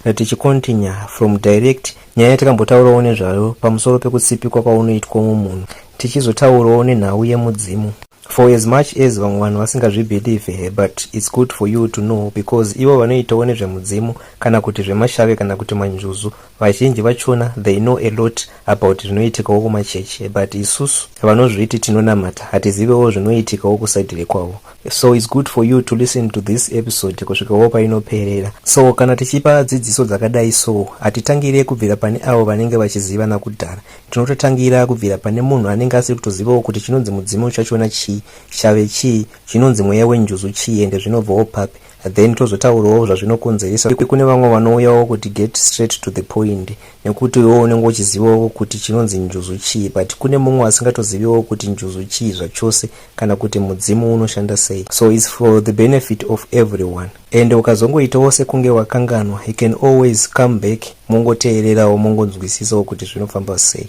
Kana tichikontinya from direct nyaya yatakambotaurawo nezvayo pamusoro pekutsipikwa kwaunoitwa umwe munhu tichizotaurawo nenhau yemudzimu for as much as vamwe vanhu vasingazvibelieve he but its good for you to know because ivo vanoitawo nezvemudzimu kana kuti zvemashave kana kuti manjuzu vazhinji vachona they know a lot about zvinoitikawo kumachechi but isusu vanozviti tinonamata hatizivewo zvinoitikawo kusaidi rekwavo so its good for you to listen to this episode kusvikawo painoperera so kana tichipa dzidziso dzakadai so hatitangire kubvira pane avo vanenge vachiziva nakudhara tinototangira kubvira pane munhu anenge asiri kutozivawo kuti chinonzi mudzimu chachona chii chave chii chinonzi mweya wenjuzu chii ende zvinobvawo papi then tozotaurawo zvazvinokonzeresa kuti kune vamwe vanouyawo kuti get straight to the point nekuti iwewo unenge uchizivawo kuti chinonzi njuzu chii but kune mumwe asingatoziviwo kuti njuzu chii zvachose kana kuti mudzimu unoshanda sei so its for the benefit of everyone and ukazongoitawo sekunge wakanganwa you can always come back mongoteererawo mongonzwisisawo kuti zvinofamba sei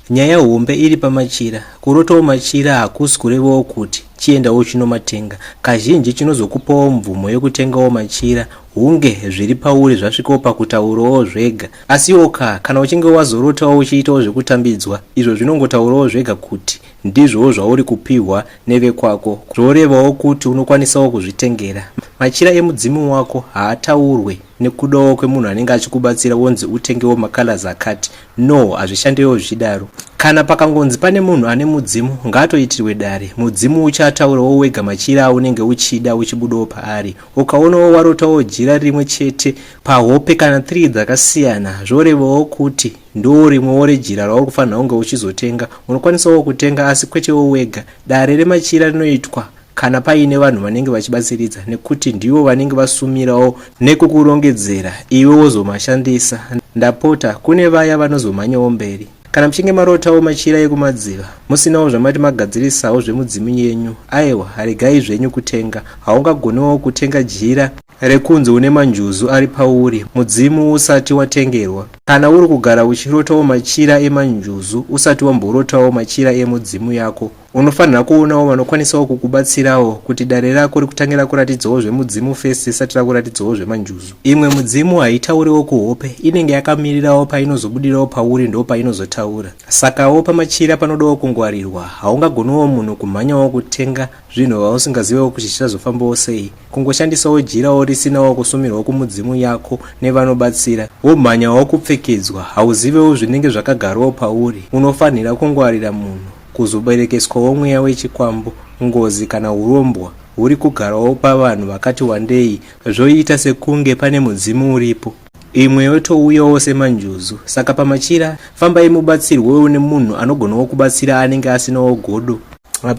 Nyaya hombe iri pamachira. Kurotawo machira hakusi kurevawo kuti chienda wochinomatenga. Kazhinji chinozokupawo mvumo yokutengawo machira hunge zviri pauri zvasvikawo pakutaurawo zvega. Asiwo ka, kana uchinge wazorotawo uchiitawo zvekutambidzwa, izvo zvinongotaurawo zvega kuti ndizvowo zvauri kupihwa nevekwako, zvorevawo kuti unokwanisawo kuzvitengera. Machira emudzimu wako haataurwe nekudawo kwemunhu anenge achikubatsira wonzi utengewo macolors akati. No hazvishandewo zvichidaro. Kana pakangonzi pane munhu ane mudzimu ngaatoitirwe dare. Mudzimu uchaataurawo wega machira aunenge uchida uchibudawo paari. Ukaonawo warotawo jira rimwe chete pahope kana three dzakasiyana zvorevawo kuti ndorimwewo rejira rauri kufanira kunge uchizotenga. Unokwanisawo kutenga asi kwetewo wega. Dare remachira rinoitwa kana paine vanhu vanenge vachibatsiridza nekuti ndivo vanenge vasumirawo nekukurongedzera iwe wozomashandisa ndapota kune vaya vanozomhanyawo mberi kana muchinge marotawo machira ekumadziva musinawo zvamati magadzirisawo zvemudzimu yenyu aiwa regai zvenyu kutenga haungagoniwo kutenga jira rekunzi une manjuzu ari pauri mudzimu usati watengerwa kana uri kugara uchirotawo machira emanjuzu usati wamborotawo machira emudzimu yako Unofanira kuonawo vanokwanisawo kukubatsirawo kuti dare rako rikutange rakuratidzawo zvemudzimu first risati rakuratidzawo zvemanjuzu. Imwe mudzimu haitauriwo kuhope, inenge yakamirirawo painozobudirawo pauri ndopainozotaura. Sakawo pamachira panodawo kungwarirwa, haungagoniwo munhu kumhanyawo kutenga zvinhu vausingazivewo kuti zvichazofambawo sei. Kungoshandisawo jirawo risinawo kusumirwa kumudzimu yako nevanobatsira, womhanyawo kupfekedzwa, hauzivewo zvinenge zvakagarawo pauri, unofanhira kungwarira munhu. Kuzoberekeswawo mweya wechikwambo, ngozi kana urombwa huri kugarawo pavanhu vakati wandei zvoita sekunge pane mudzimu uripo. Imwe yotouyawo semanjuzu. Saka pamachira, fambai mubatsirwewo nemunhu anogonawo kubatsira anenge asinawo godo.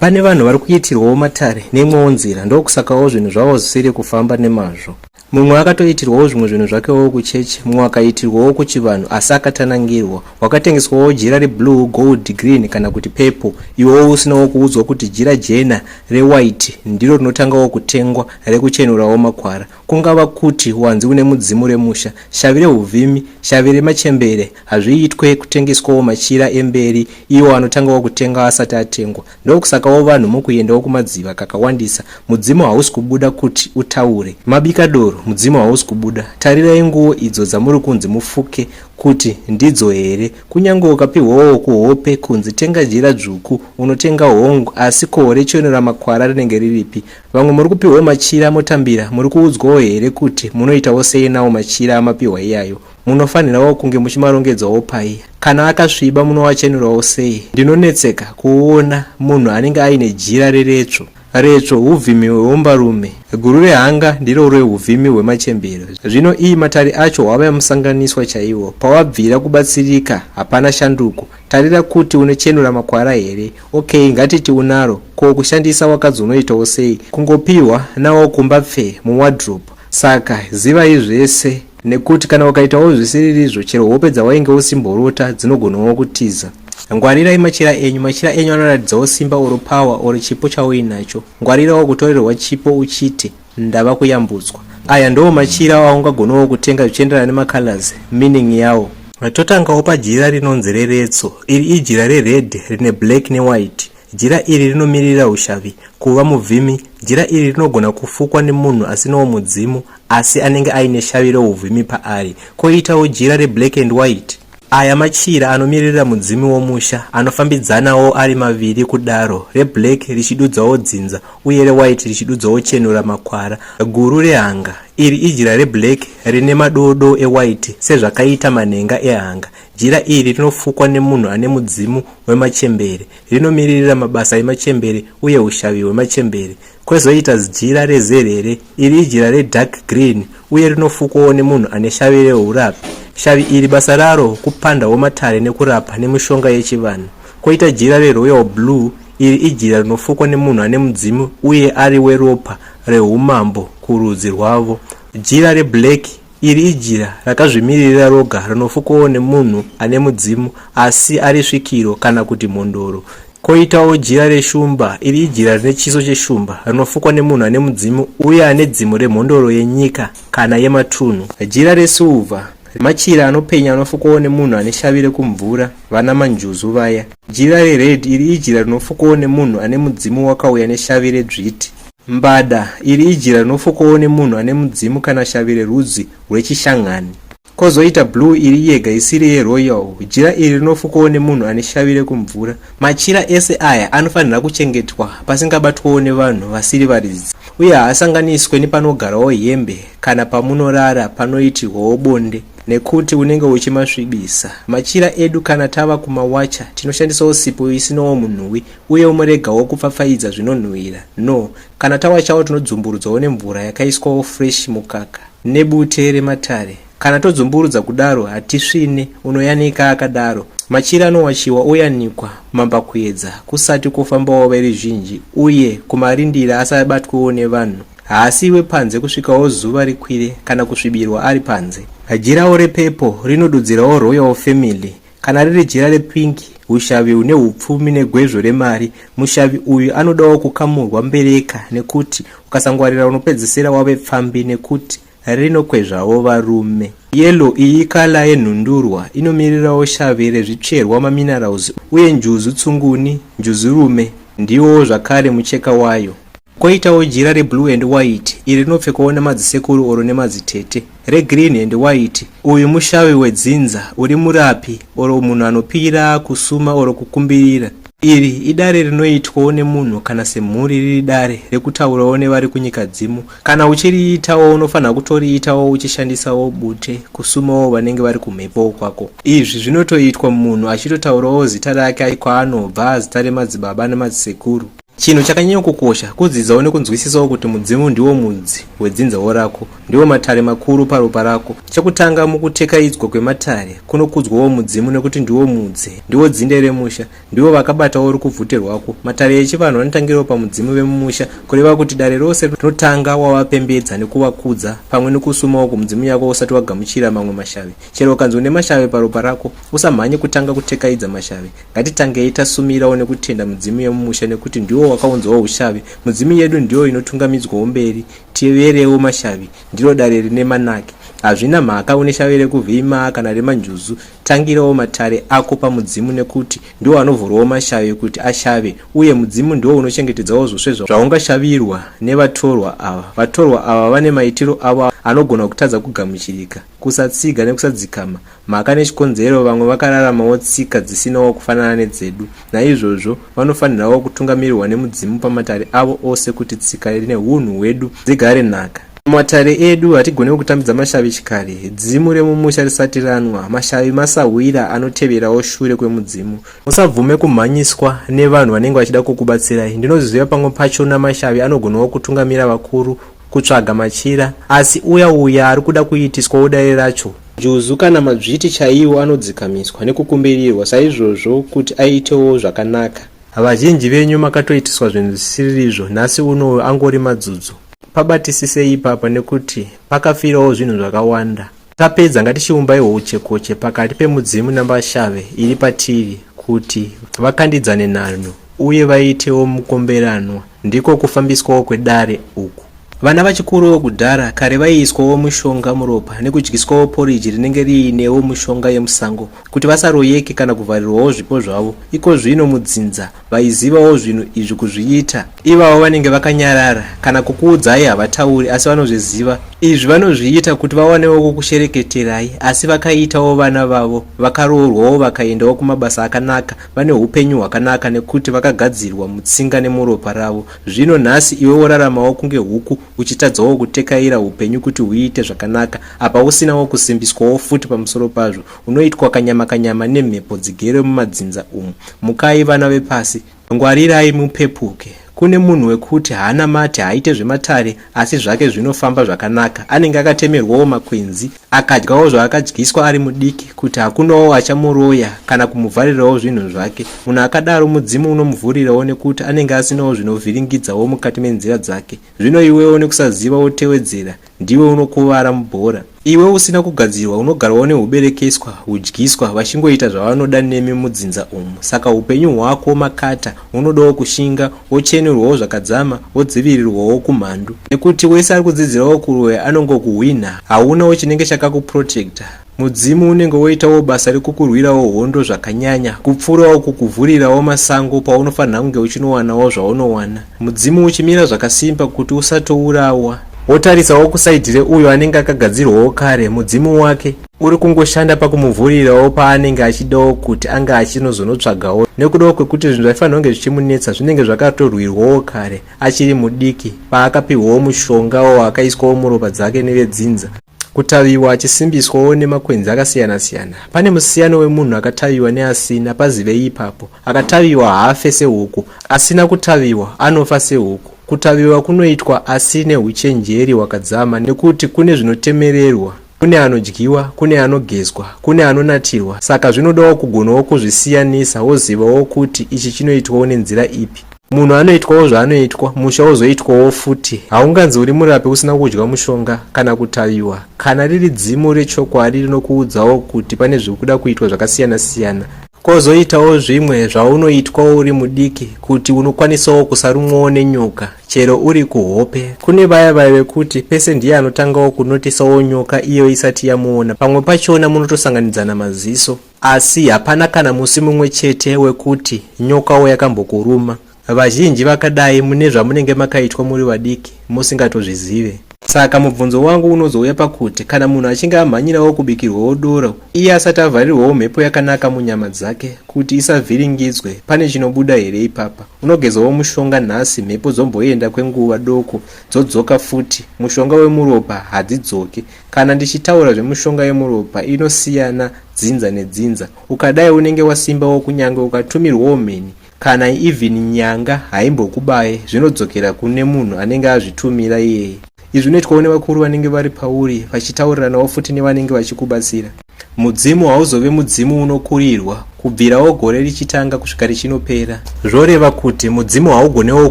Pane vanhu vari kuitirwawo matare neimwewo nzira ndokusakawo zvinhu zvavo zvisiri kufamba nemazvo. Mumwe akatoitirwawo zvimwe zvinhu zvakewo kuchechi, mumwe akaitirwawo kuchivanhu asi akatanangirwa. Wakatengeswawo jira reblue, gold, green kana kuti purple iwewo usinawo kuudzwa kuti jira jena, rewhite, ndiro rinotangawo kutengwa rekuchenurawo makwara. Kungava kuti wanzi une mudzimu remusha, shavi rehuvhimi, shavi remachembere. Hazviitwe kutengeswawo machira emberi iwo anotangawo kutengwa asati atengwa. Ndokusakawo vanhu mukuyendawo kumadziva kakawandisa mudzimu hausi kubuda kut utaure. Mabika doro mudzimu hausi kubuda. Tarirai nguwo idzo dzamuri kunzi mufuke kut ndidzo here. Kunyange ukapihwawo kuhope kunzi tenga jira dzvuku unotenga hong asi ko rechiuno ramakwara rinenge riripi. Vamwe muri kupihwawo machira motambira muri kuudzwawo here kut munoitawo sei nawo machira amapihwa iyayo. Munofanhirawo kunge muchimarongedzawo pai? Kana akasviba munowachenurawo sei? Ndinonetseka kuona munhu anenge aine jira reretsvo. Retsvo huvhimi hweumbarume. Guru rehanga ndiro rehuvhimi hwemachembero. Zvino ii matari acho hwave musanganiswa chaiwo. Pawabvira kubatsirika hapana shanduko. Tarira kuti unochenura makwara here? Ok ngatiti unaro. Ko kushandisa wakadzi unoitawo sei? Kungopihwa nawo kumba pfee muwardrobe. Saka zivai zvese nekuti kana ukaitawo zvisiririzvo chero hope dzawainge usimborota dzinogonawo kutiza. Ngwarirai machira enyu. Machira enyu anoratidzawo simba or power or chipo chauinacho. Ngwarirawo kutorerwa chipo uchiti ndava kuyambutswa. Aya ndoo machira aungagonawo kutenga zvichienderana nemacolors, meaning yawo. Totangawo pajira rinonzi reretso. Iri ijira rered rine black newhite. Jira iri rinomiririra ushavi, kuva muvhimi. Jira iri rinogona kufukwa nemunhu asinawo mudzimu asi anenge aine shavi reuvhimi paari. Koitawo jira reblack and white. Aya machira anomiririra mudzimi womusha anofambidzanawo ari maviri kudaro, reblack richidudzawo dzinza uye rewhite richidudzawo chenura makwara. Guru rehanga. Iri ijira reblack rine madoo doo ewhite sezvakaita manhenga ehanga. Jira iri rinofukwa nemunhu ane mudzimu wemachembere. Rinomiririra mabasa emachembere uye ushavi hwemachembere. Kwezoita jira rezerere. Iri ijira redark green uye rinofukwawo nemunhu ane shavi reurapi. Shavi iri basa raro kupandawo matare nekurapa nemishonga yechivanhu. Koita jira reroyal blue. Iri ijira rinofukwa nemunhu ane mudzimu uye ari weropa rehumambo kurudzi rwavo. Jira reblack Iri ijira rakazvimiririra roga rinofukwawo nemunhu ane mudzimu asi ari svikiro kana kuti mhondoro. Koitawo jira reshumba. Iri ijira rine chiso cheshumba rinofukwa nemunhu ane mudzimu uye ane dzimu remhondoro yenyika kana yematunhu. Jira resuva. Machira anopenya anofukwawo nemunhu ane shavi rekumvura, vana manjuzu vaya. Jira rered. Iri ijira rinofukwawo nemunhu ane mudzimu wakauya neshavi redzviti. Mbada, iri ijira rinofokowo nemunhu ane mudzimu kana shavi rerudzi rweChishangani. Kozoita blue iri yega isiri yeroyal, jira iri rinofokowo nemunhu ane shavi rekumvura. Machira ese aya anofanira kuchengetwa pasingabatwewo nevanhu vasiri varidzi uye haasanganiswe nepanogarawo hembe kana pamunorara panoitirwawo bonde nekuti unenge uchimasvibisa. Machira edu kana tava kumawacha tinoshandisawo sipo isinowo munhuwi Uye womoregawo kupfapfaidza zvinonhuhwira, no, kana tawachawo tinodzumburudzwawo nemvura yakaiswawo fresh mukaka, nebute rematare, kana todzumburudza kudaro hatisvine, unoyanika akadaro. Machira anowachiwa oyanikwa mambakuedza kusati kwofambawo veruzhinji uye kumarindira asabatwewo nevanhu, haasi wepanze kusvikawo zuva rikwire kana kusvibirwa ari panze. Jirawo repepo rinodudzirawo royal family Kana riri jira repink, hushavi hune hupfumi negwezvo remari, mushavi uyu anodawo kukamurwa mbereka nekuti ukasangwarira unopedzisira wave pfambi nekuti rinokwezvawo varume. Yellow iyi ikala yenhundurwa inomirirawo shavi rezvitsverwa maminerals uye njuzu tsunguni, njuzurume, ndiwo zvakare mucheka wayo. Koitawo jira reblue and white iri rinopfekwawo nemadzisekuru oro nemadzitete. Regreen and white uyu mushavi wedzinza uri murapi oro munhu anopira kusuma oro kukumbirira. Iri idare rinoitwawo nemunhu kana semhuri riri dare rekutaurawo nevari kunyika dzimu. Kana uchiriitawo unofanira kutoriitawo uchishandisawo bute kusumawo vanenge vari kumhepowo kwako. Izvi zvinotoitwa munhu achitotaurawo zita rake kwaanobva, zita remadzibaba nemadzisekuru. Chinhu chakanyanya kukosha kudzidzawo nekunzwisisawo kuti mudzimu ndiwo mudzi wedzinzawo rako, ndiwo matare makuru paropa rako. Chekutanga mukutekaidzwa kwematare kunokudzwawo mudzimu nekuti ndiwo mudzi, ndiwo dzinde remusha, ndiwo vakabatawo rukubvute rwako. Matare echivanhu anotangirawo pamudzimu vemumusha, kureva kuti dare rose rinotanga wavapembedza nekuvakudza pamwe nekusumawo kumudzimu yako usati wagamuchira mamwe mashave. Chero ukanzi une mashave paropa rako, usamhanye kutanga kutekaidza mashave. Ngatitangei tasumirawo nekutenda mudzimu yemumusha nekuti ndiwo wakaunzawo ushavi. Mudzimu yedu ndiyo inotungamidzwawo mberi. Teverewo mashavi, ndiro dare rine manake. Hazvina mhaka une shavi rekuVimaa kana reManjuzu, tangirawo matare ako pamudzimu nekuti ndiwo anovhurawo mashavi kuti ashave uye mudzimu ndiwo unochengetedzawo zvose zvaungashavirwa nevatorwa ava. Vatorwa ava vane maitiro avo anogona kutadza kugamuchirika. Kusatsiga nekusadzikama, Mhaka nechikonzero Vamwe vakararamawo tsika dzisinawo kufanana nedzedu. Naizvozvo, vanofanirawo kutungamirirwa nemudzimu pamatare avo ose kuti tsika nehunhu hwedu dzigare nhaka. Pamatare edu hatigonewo kutambidza mashavi chikare. Dzimu remumusha risati ranwa, mashavi masahwira anoteverawo shure kwemudzimu. Musabvume kumhanyiswa nevanhu vanenge vachida kukubatsirai. Ndinozviziva pamwe pachona mashavi anogonawo kutungamira vakuru kutsvaga machira asi uya uya ari kuda kuitiswawo dare racho juzu kana madzviti chaiwo anodzikamiswa nekukumbirirwa saizvozvo kuti aitewo zvakanaka vazhinji venyu makatoitiswa zvinhu zvisiririzvo nhasi uno angori madzudzo pabatisisei ipapa nekuti pakafirawo zvinhu zvakawanda Tapedza ngatichiumbaiwo uchekoche pakati pemudzimu nambashave iri patiri kuti vakandidzane nhanho uye vaitewo mukomberanwa ndiko kufambiswawo kwedare uku. Vana vachikurowo kudhara kare vaiiswawo mushonga muropa nekudyiswawo poriji rinenge riinewo mushonga yemusango kuti vasaroyeke kana kuvharirwawo zvipo zvavo ikozvino mudzinza vaizivawo zvinhu izvi kuzviita ivavo vanenge vakanyarara kana kukuudzai havatauri asi vanozviziva izvi vanozviita kuti vawanewo kukushereketerai asi vakaitawo vana vavo vakaroorwawo vakaendawo kumabasa akanaka vane upenyu hwakanaka nekuti vakagadzirwa mutsinga nemuropa ravo zvino nhasi iwe woraramawo kunge huku uchitadzawo kutekaira upenyu kuti huiite zvakanaka apa usinawo kusimbiswawo futi pamusoro pazvo Unoitwa kanyama kanyama nemhepo dzigere mumadzinza umu. Mukai vana vepasi, ngwarirai mupepuke. Kune munhu wekuti haanamate, haaite zvematare asi zvake zvinofamba zvakanaka. Anenge akatemerwawo makwenzi, akadyawo zvaakadyiswa ari mudiki kuti hakunawo achamuroya kana kumuvharirawo zvinhu zvake. Munhu akadaro mudzimu unomuvhurirawo nekuti anenge asinawo zvinovhiringidzawo mukati menzira dzake. Zvino iwewo nekusaziva wotewedzera, ndiwe unokuvara mubhora. Iwe usina kugadzirwa unogarwawo nehuberekeswa, hudyiswa, vachingoita zvavanoda nemi mudzinza umu. Saka hupenyu hwako makata, unodawo kushinga, wochenurwawo zvakadzama, wodzivirirwawo kumhandu. Nekuti wese ari kudzidzirawo kuroya anongokuhwinha, haunawo chinenge chakakuprotector. Mudzimu unenge woitawo basa rekukurwirawo hondo zvakanyanya kupfuurawo kukuvhurirawo masango paunofanira kunge uchinowanawo zvaunowana mudzimu uchimira zvakasimba kuti usatourawa wotarisawo kusaidhire uyo anenge akagadzirwawo kare mudzimu wake uri kungoshanda pakumuvhurirawo paanenge achidawo kuti ange achinozonotsvagawo nekudawo kwekuti zvinhu zvaifanira kunge zvichimunetsa zvinenge zvakatorwirwawo kare achiri mudiki paakapihwawo mushongawo akaiswawo muropa dzake nevedzinza Kutaviwa achisimbiswawo nemakwenzi akasiyana siyana. Pane musiyano wemunhu akataviwa neasina, pazivei ipapo. Akataviwa haafe sehuku, asina kutaviwa anofa sehuku. Kutaviwa kunoitwa asi nehuchenjeri hwakadzama nekuti kune zvinotemererwa, kune anodyiwa, kune anogezwa, kune anonatirwa saka zvinodawo kugonawo kuzvisiyanisa wozivawo kuti ichi chinoitwawo nenzira ipi. munhu anoitwawo zvaanoitwa musha wozoitwawo futi haunganzi uri murapi usina kudya mushonga kana kutaviwa kana riri dzimu rechokwadi rinokuudzawo kuti pane zviri kuda kuitwa zvakasiyana siyana kwozoitawo zvimwe zvaunoitwawo uri mudiki kuti unokwanisawo kusarumwawo nenyoka chero uri kuhope kune vaya vaya vekuti pese ndiye anotangawo kunotisawo nyoka iyo isati yamuona pamwe pachona munotosanganidzana maziso Asi hapana kana musi mumwe chete wekuti nyokawo yakambokuruma. Vazhinji vakadai mune zvamunenge makaitwa muri vadiki musingatozvizive. Saka mubvunzo wangu unozouya pakuti kana munhu achinge amhanyirawo kubikirwawo doro iye asati avharirwawo mhepo yakanaka munyama dzake kuti isavhiringidzwe, pane chinobuda here ipapa? Unogezawo mushonga nhasi mhepo dzomboenda kwenguva doko dzodzoka futi, mushonga wemuropa hadzidzoki. Kana ndichitaura zvemushonga yemuropa inosiyana dzinza nedzinza. Ukadai unenge wasimbawo kunyange ukatumirwawo mheni kana even nyanga haimbokubaye zvinodzokera kune munhu anenge azvitumira iyeye. Izvi unoitwawo nevakuru vanenge vari pauri vachitauriranawo futi nevanenge vachikubatsira. Mudzimu hauzove mudzimu unokurirwa kubvirawo gore richitanga kusvika richinopera. Zvoreva kuti mudzimu haugonewo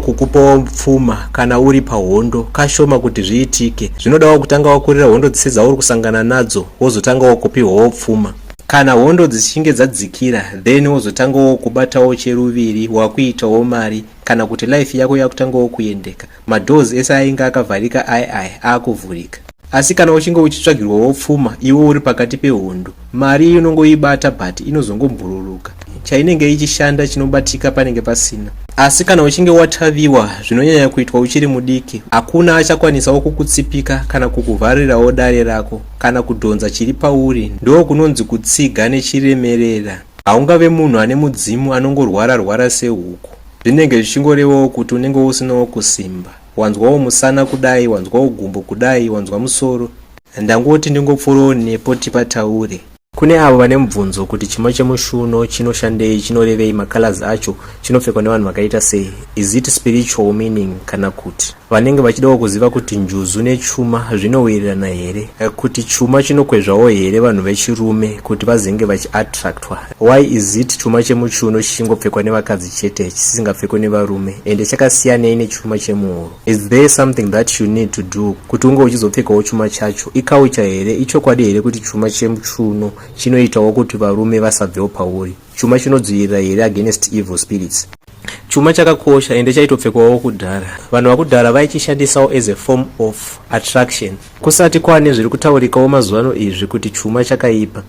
kukupawo pfuma kana uri pahondo, kashoma kuti zviitike. Zvinodawo kutanga wakurira hondo dzese dzauri kusangana nadzo wozotangawo kupihwawo pfuma. Kana hondo dzichinge dzadzikira then wozotangawo kubatawo cheruviri wakuitawo mari kana kuti life yako yakutangawo kuendeka. Madoors ese ainge akavharika aye aye aakuvhurika. Asi kana uchinge uchitsvagirwawo pfuma iwe uri pakati pehondo, mari iyo unongoibata but inozongombururuka. Chainenge ichishanda chinobatika panenge pasina. Asi kana uchinge wataviwa zvinonyanya kuitwa uchiri mudiki, hakuna achakwanisawo kukutsipika kana kukuvharirawo dare rako kana kudhonza chiri pauri, ndoo kunonzi kutsiga nechiremerera. Haungave munhu ane mudzimu anongorwara rwara sehuku. Zvinenge zvichingorevawo kuti unenge usinawo kusimba. Wanzwawo musana kudai, wanzwawo gumbo kudai, wanzwa musoro. Ndangoti ndingopfuurawo nepo tipataure. Kune avo vane mubvunzo kuti chima chemushuno chinoshandei, chinorevei, macolors acho, chinopfekwa nevanhu vakaita sei, is it spiritual meaning kana kuti. Vanenge vachidawo kuziva kuti njuzu nechuma zvinowirirana here, kuti chuma chinokwezvawo here vanhu vechirume kuti vazenge vachiattractwa. Why is it chuma chemuchiuno chichingopfekwa nevakadzi chete chisingapfekwe nevarume ende chakasiyanei nechuma chemuhuro? Is there something that you need to do kuti unge uchizopfekawo chuma chacho? Ikaucha here? Ichokwadi here kuti chuma chemuchiuno chinoitawo kuti varume vasabvewo pauri? Chuma chinodzivirira here against evil spirits? Chuma chakakosha ende chaitopfekwawo kudhara. Vanhu vakudhara vaichishandisawo as a form of attraction. Kusati kwane zviri kutaurikawo mazuvano izvi kuti chuma chakaipa.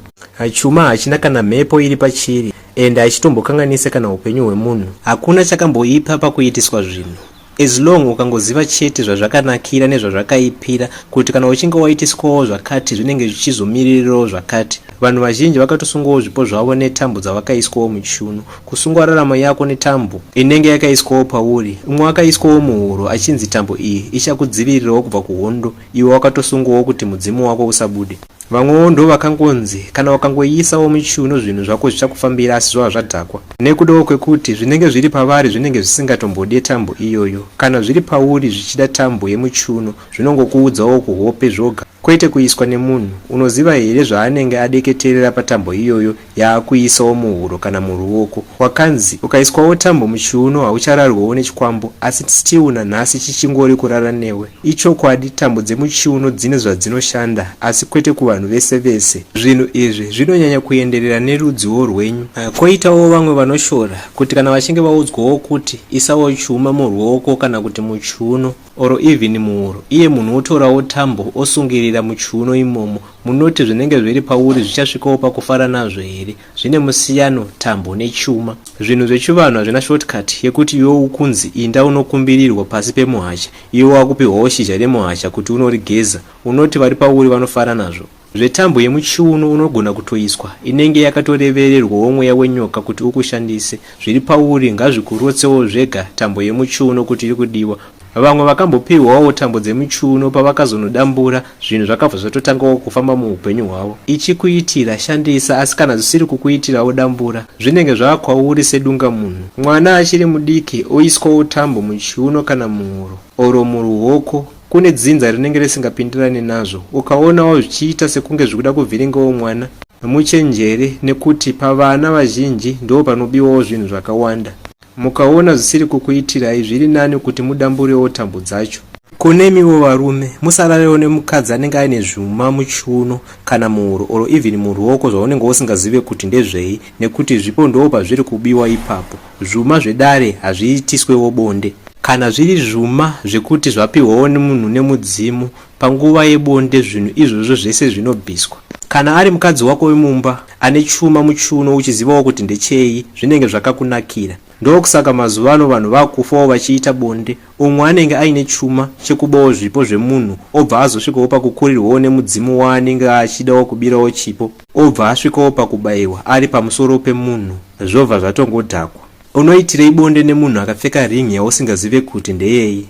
Chuma hachina kana mhepo iri pachiri ende hachitombokanganise kana upenyu hwemunhu. Hakuna chakamboipa pakuitiswa zvinhu. As long ukangoziva chete zvazvakanakira nezvazvakaipira kuti kana uchinge waitiswawo zvakati zvinenge zvichizomiririrawo zvakati. Vanhu vazhinji vakatosungwawo zvipo zvavo netambo dzavakaiswawo muchiuno. Kusungwa raramo yako netambo inenge yakaiswawo pauri. Umwe akaiswawo muhuro achinzi tambo iyi ichakudzivirirawo kubva kuhondo iwe wakatosungwawo kuti mudzimu wako usabude. Vamwewo ndovakangonzi kana ukangoiisawo muchiuno zvinhu zvako zvichakufambira asi zvava zvadhakwa. Nekudawo kwekuti zvinenge zviri pavari zvinenge zvisingatombode tambo iyoyo. Kana zviri pauri zvichida tambo yemuchiuno zvinongokuudzawo kuhope zvoga kwete kuiswa nemunhu. Unoziva here zvaanenge adeketerera patambo iyoyo yaakuisawo muhuro kana muruoko wakanzi ukaiswawo tambo muchiuno hauchararwewo nechikwambo asi still nanhasi chichingori kurara newe ichokwadi tambo dzemuchiuno dzine zvadzinoshanda asi kwete kuvanhu vese vese zvinhu izvi zvinonyanya kuenderera nerudziwo rwenyu ah, koitawo vamwe vanoshora kuti kana vachinge vaudzwawo kuti isawo chuma muruoko kana kuti muchiuno or even muhuro iye munhu wotorawo tambo osungirira muchiuno imomo munoti zvinenge zviri pauri zvichasvikawo pakufara nazvo here zvine musiyano tambo nechuma zvinhu zvechivanhu hazvina shortcut yekuti iwe ukunzi inda unokumbirirwa pasi pemuhacha iwe wakupihwawo shizha remuhacha kuti unorigeza unoti vari pauri vanofara nazvo Zvetambo yemuchiuno unogona kutoiswa inenge yakatorevererwawo mweya wenyoka kuti ukushandise. Zviri pauri ngazvikurotsewo zvega tambo yemuchiuno kuti iri kudiwa. Vamwe vakambopihwawo tambo dzemuchiuno pavakazonodambura zvinhu zvakabva zvatotangawo kufamba muupenyu hwavo. Ichikuitira, shandisa asi kana zvisiri kukuitirawo dambura zvinenge zvava kwauri sedungamunhu. Mwana achiri mudiki oiswawo tambo muchiuno kana muhuro or muruoko. kune dzinza rinenge risingapindirane nazvo ukaonawo zvichiita sekunge zvikuda kuvhiringawo mwana muchenjere nekuti pavana vazhinji ndo panobiwawo zvinhu zvakawanda mukaona zvisiri kukuitirai zviri nani kuti mudamburewo tambo dzacho kunemiwo varume musararewo nemukadzi anenge aine zvuma muchiuno kana muhuro or even muruoko zvaunenge usingazive kuti ndezvei nekuti zvipo ndoo pazviri kubiwa ipapo Zvuma zvedare hazviitiswewo bonde. Kana zviri zvuma zvekuti zvapihwawo nemunhu nemudzimu panguva yebonde zvinhu izvozvo zvese zvinobviswa. Kana ari mukadzi wako wemumba ane chuma muchiuno uchizivawo kuti ndechei zvinenge zvakakunakira. Ndokusaka mazuvano vanhu vakufawo vachiita bonde Umwe anenge aine chuma chekubawo zvipo zvemunhu obva azosvikawo pakukurirwawo nemudzimu waanenge achidawo kubirawo chipo obva asvikawo pakubaiwa ari pamusoro pemunhu zvobva zvatongodhakwa. Unoitirei bonde nemunhu akapfeka ring yausingazive kuti ndeyei?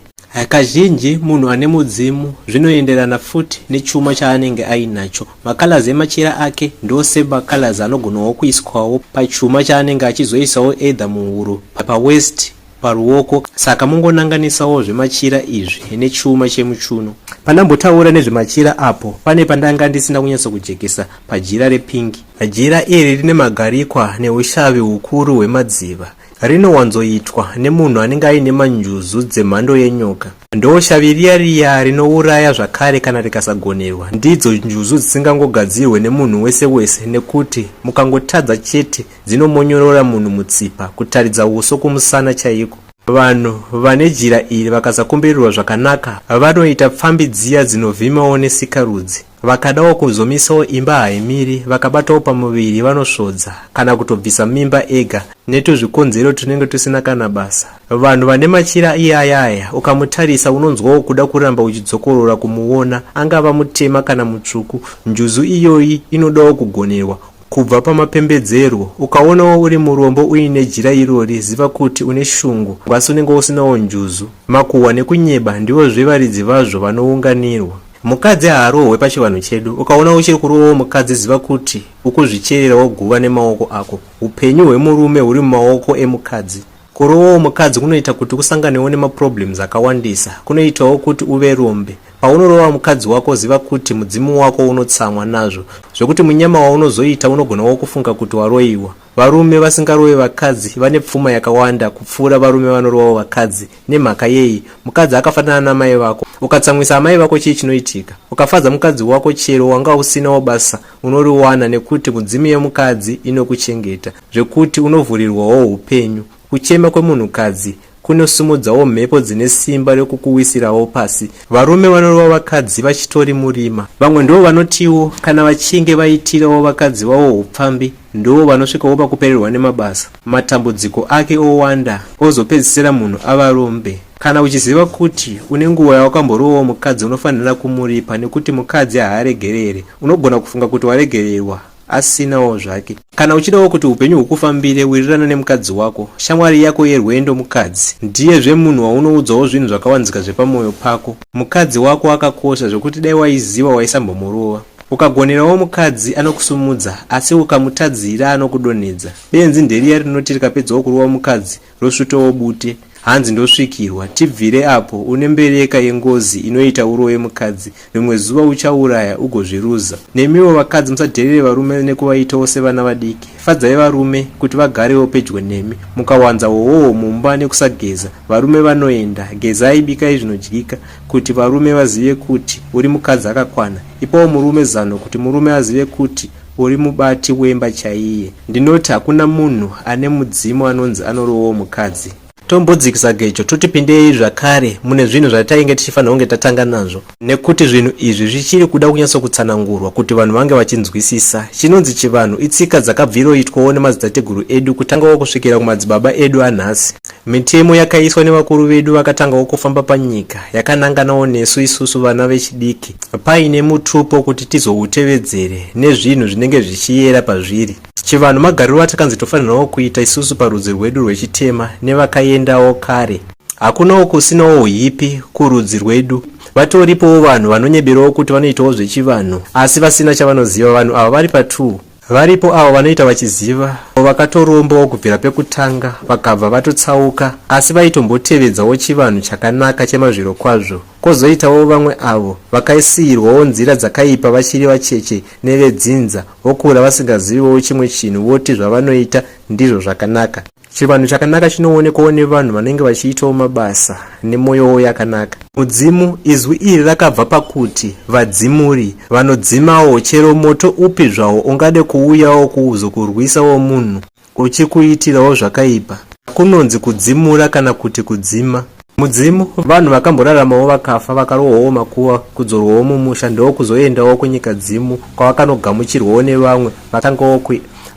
Kazhinji munhu ane mudzimu zvinoenderana futi nechuma chaanenge ainacho. Macolors emachira ake ndosema colors anogonawo kuiswawo pachuma chaanenge achizoisawo either muhuro, pawaist, paruoko saka mongonanganisawo zvemachira izvi nechuma chemuchuno. Pandambotaura nezvemachira apo pane pandanga ndisina kunyatso kujekesa pajira repingi. Jira iri rine magarikwa neushavi hukuru hwemadziva. Rinowanzoitwa nemunhu anenge aine manjuzu dzemhando yenyoka. Ndoshavi riya riya rinouraya zvakare kana rikasagonerwa. Ndidzo njuzu dzisingangogadzirwe nemunhu wese wese nekuti mukangotadza chete Dzinomonyorora munhu mutsipa kutaridza uso kumusana chaiko. Vanhu vane jira iri vakasakombererwa zvakanaka vanoita pfambi dziya dzinovhimawo nesikarudzi. Vakadawo kuzomisawo imba haimiri vakabatawo pamuviri vanosvodza kana kutobvisa mimba ega netuzvikonzero tunenge tusina kana basa. Vanhu vane machira iyaya aya ukamutarisa unonzwawo kuda kuramba uchidzokorora kumuona angava mutema kana mutsvuku. Njuzu iyoyi inodawo kugonerwa. kubva pamapembedzerwo. Ukaonawo uri murombo uine jira irori, ziva kuti une shungu, asi unenge usinawo njuzu. Makuhwa nekunyeba ndivozve varidzi vazvo vanounganirwa. Mukadzi haarohwe pachivanhu chedu. Ukaona uchiri kurovawo mukadzi ziva kuti ukuzvichererawo guva nemaoko ako. Upenyu hwemurume huri mumaoko emukadzi. Kuroovawo mukadzi kunoita kuti usanganewo nemaproblems akawandisa. Kunoitawo kuti uve rombe. Paunorova mukadzi wako ziva kuti mudzimu wako unotsamwa nazvo zvekuti munyama waunozoita unogona wo kufunga kuti waroiwa. Varume vasingarove vakadzi vane pfuma yakawanda kupfuura varume vanorovawo vakadzi. Nemhaka yei? Mukadzi akafanana namai vako. Ukatsamwisa amai vako chii chinoitika? Ukafadza mukadzi wako chero wanga usinawo basa unoriwana nekuti mudzimu yemukadzi inokuchengeta. Zvekuti unovhurirwawo upenyu. Kuchema kwemunhukadzi kunosimudzawo mhepo dzine simba rekukuwisirawo pasi. Varume vanorova vakadzi vachitori murima. Vamwe ndivo vanotiwo kana vachinge vaitirawo vakadzi vavo hupfambi ndivo vanosvikawo pakupererwa nemabasa, matambudziko ake owanda ozopedzisira munhu ava rombe. Kana uchiziva kuti une nguva yawakamborovawo mukadzi unofanhira kumuripa nekuti mukadzi haaregerere. Unogona kufunga kuti waregererwa. asinawo zvake. Kana uchidawo kuti upenyu hukufambire wirirana nemukadzi wako, shamwari yako yerwendo mukadzi ndiye zve munhu waunoudzawo zvinhu zvakawanzika zvepamoyo pako. Mukadzi wako akakosha zvekuti dai waiziva waisambomurova. Ukagonerawo mukadzi anokusumudza asi ukamutadzira anokudonhedza. Benzi nderiya rinoti rikapedzawo kurova mukadzi rosvutowo bute hanzi ndosvikirwa tibvire apo une mbereka yengozi inoita uroye mukadzi rimwe zuva uchauraya ugozviruza nemiwo vakadzi musadherere varume nekuvaitawo sevana vadiki fadzai varume kuti vagarewo pedyo nemi mukawanza wowowo mumba nekusageza varume vanoenda gezai bikai zvinodyika kuti varume vazive kuti uri mukadzi akakwana ipawo murume zano kuti murume azive kuti Uri mubati wemba chaiye. Ndinoti hakuna munhu ane mudzimu anonzi anorovawo mukadzi. Tombodzikisa gejo toti pindei zvakare mune zvinhu zvatainge tichifanira kunge tatanga nazvo nekuti zvinhu izvi zvichiri kuda kunyatsokutsanangurwa kuti vanhu vange vachinzwisisa. Chinonzi chivanhu itsika dzakabviroitwawo nemadzitateguru edu kutangawo kusvikira kumadzibaba edu anhasi. Mitemo yakaiswa nevakuru vedu vakatangawo kufamba panyika yakananganawo nesu isusu vana vechidiki paine mutupo kuti tizoutevedzere nezvinhu zvinenge zvichiyera pazviri. Chivanhu magariro atakanzi tofanirawo kuita isusu parudzi rwedu rwechitema nevakaendawo kare. Hakunawo kusinawo uhipi kurudzi rwedu. Vatoripowo vanhu vanonyeberawo kuti vanoitawo zvechivanhu asi vasina chavanoziva. Vanhu ava vari pa2. Varipo avo vanoita vachiziva avo vakatorombawo kubvira pekutanga vakabva vatotsauka asi vaitombotevedzawo chivanhu chakanaka chemazvirokwazvo. Kozoitawo vamwe avo vakaisiirwawo nzira dzakaipa vachiri vacheche nevedzinza vokura vasingaziviwo chimwe chinhu voti zvavanoita ndizvo zvakanaka. Chivanhu chakanaka chinoonekwawo nevanhu vanenge vachiitawo mabasa nemwoyowo yakanaka. Mudzimu, izwi iri rakabva pakuti vadzimuri, vanodzimawo chero moto upi zvawo ungade kuuyawo kuzokurwisawo munhu uchikuitirawo zvakaipa. Kunonzi kudzimura kana kuti kudzima. Mudzimu, vanhu vakamboraramawo vakafa vakarohwawo makuva kudzorwawo mumusha ndokuzoendawo kunyikadzimu kwavakanogamuchirwawo nevamwe vakangawo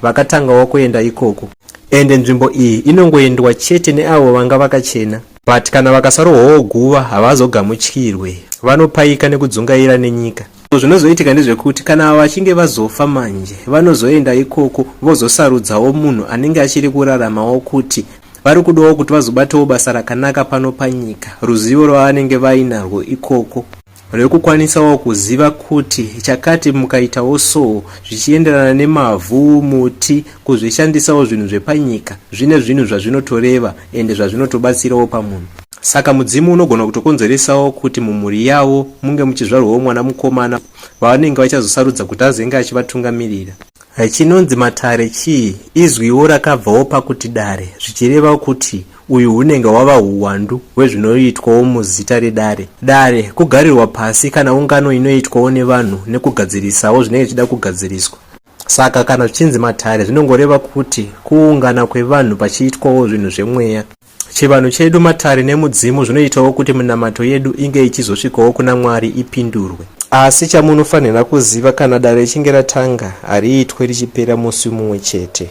vakatanga wakuenda ikoko. Ende nzvimbo iyi inongoendwa chete neavo vanga vakachena. But kana vakasarohwawo guva havazogamuchirwe. Vanopaika nekudzungaira nenyika. So zvinozoitika ndezvekuti kana ava vachinge vazofa manje vanozoenda ikoko vozosarudzawo munhu anenge achiri kuraramawo kuti vari kudawo kuti vazobatawo basa rakanaka pano panyika ruzivo rwavanenge vainarwo ikoko. rekukwanisawo kuziva kuti chakati mukaitawo so zvichienderana nemavhu muti kuzvishandisawo zvinhu zvepanyika zvine zvinhu zvazvinotoreva ende zvazvinotobatsirawo pamunhu saka mudzimu unogona kutokonzeresawo kuti mumhuri yavo munge muchizvarwawo mwana mukomana vavanenge vachazosarudza kuti azenge achivatungamirira Eh, chinonzi matare chii? Izwiwo rakabvawo pakuti dare zvichireva kuti uyu hunenge hwava huwandu hwezvinoitwawo muzita redare. Dare kugarirwa pasi kana ungano inoitwawo nevanhu nekugadzirisawo zvinenge zvichida kugadziriswa. Saka kana zvichinzi matare zvinongoreva kuti kuungana kwevanhu pachiitwawo zvinhu zvemweya. Chivanhu chedu, matare nemudzimu zvinoitawo kuti minamato yedu inge ichizosvikawo kuna Mwari ipindurwe. Asi chamunofanira kuziva, kana dare richinge ratanga, hariitwe richipera musi mumwe chete.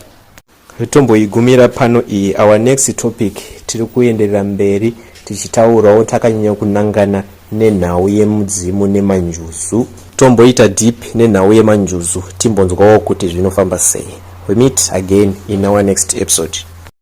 Tomboigumira pano iyi. Our next topic tiri kuenderera mberi tichitaurawo takanyanya kunangana nenhau yemudzimu nemanjuzu. Tomboita deep nenhau yemanjuzu timbonzwawo kuti zvinofamba sei. We meet again in our next episode.